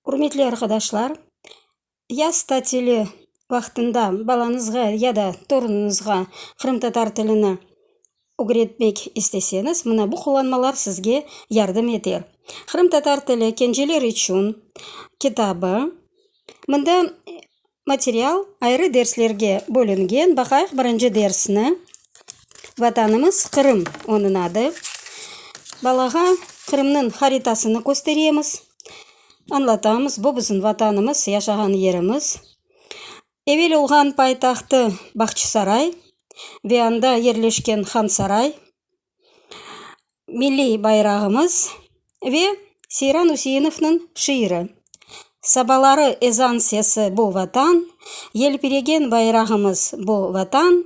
Ürmetli arqadaşlar, yaz tatili vaqtında balañızğa ya da torunuñızğa qırımtatar tilini ögretmek isteseñiz, mına bu qullanmalar sizge yardım eter. Qırımtatar tili kenceler içün kitabı. Mında material ayrı derslerge bölüngen. Baqayıq birinci dersni. Vatanımız Qırım onıñ adı. Balağa Qırımnıñ haritasını kösteremiz. Añlatamız, bu bizim Vatanımız, yaşağan yerimiz. Evel olğan paytahtı Bağçısaray ve anda yerleşken Hansaray. milliy bayrağımız ve Seyran Üseinovnıñ şiiri, Sabaları ezan sesi bu Vatan, yelpiregen bayrağımız bu Vatan,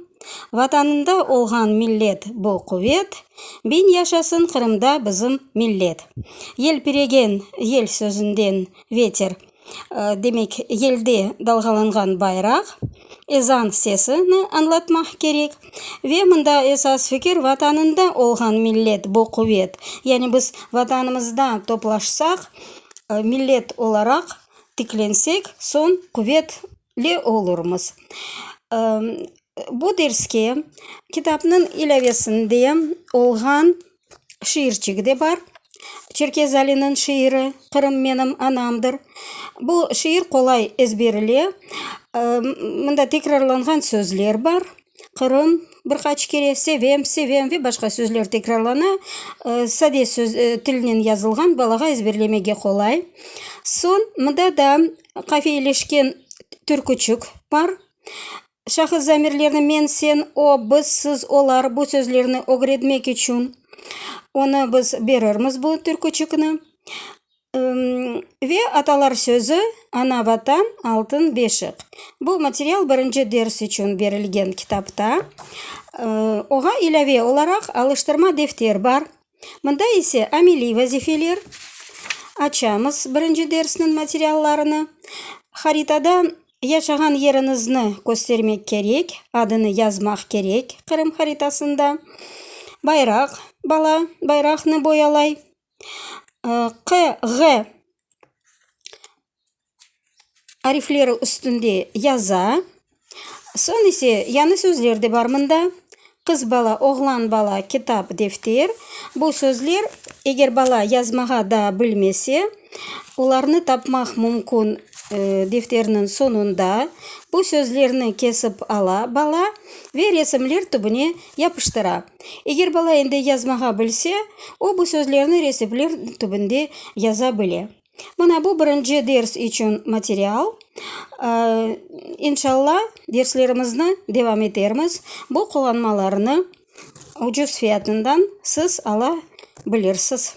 Vatanında olğan millet bu quvet, biñ yaşasın Qırımda bizim millet. Yelpiregen yel sözünden veter. Demek, yelde dalğalanğan bayraq, ezan sesini añlatmaq kerek. Ve mında esas fikir, Vatanında olğan millet, bu quvet. Yani biz Vatanımızda toplaşsaq, millet olaraq tiklensek, soñ quvetli olurmız. Bu derske kitapnıñ ilâvesinde olğan şiirçigi de bar, Çerkez Aliniñ şiiri Qırım menim anamdır. Bu şiir qolay ezberile. Mında tekrarlanğan sözler bar, Qırım, bir qaç kere, sevem, sevem ve başqa sözler tekrarlana. Sade söz, tilnen yazılğan, balağa ezberlemege qolay. Soñ, mında da qafiyeleşken türküçük bar. Şahıs zamirlerni men, sen, o, biz, siz, olar, bu sözlerni ögretmek içün onı biz berirmiz, bu türküçikni. Ve atalar sözü, Ana Vatan, altın beşik. Bu material birinci ders içün berilgen kitapta. Oña ilâve olaraq alıştırma defter bar. Mında ise ameliy vazifeler, açamız birinci dersniñ materiallarını, haritada yaşağan yeriñizni köstermek kerek, adını yazmaq kerek Qırım haritasında, bayraq, bala bayraqnı boyalay, QG arifleri üstünde yaza. Soñ ise yañı sözler de bar mında, qız bala, oğlan bala, kitap, defter. Bu sözler, eger bala yazmağa daa bilmese, olarnı tapmaq mümkün defterniñ soñunda. Bu sözlerni kesip ala bala ve resimler tübüne yapıştıra. Eger bala endi yazmağa bilse, o bu sözlerni resimler tübünde yaza bile. Mına bu birinci ders içün material. İnşalla derslerimizni devam etermiz. Bu qullanmalarnı ucuz fiyatından siz ala bilirsiz.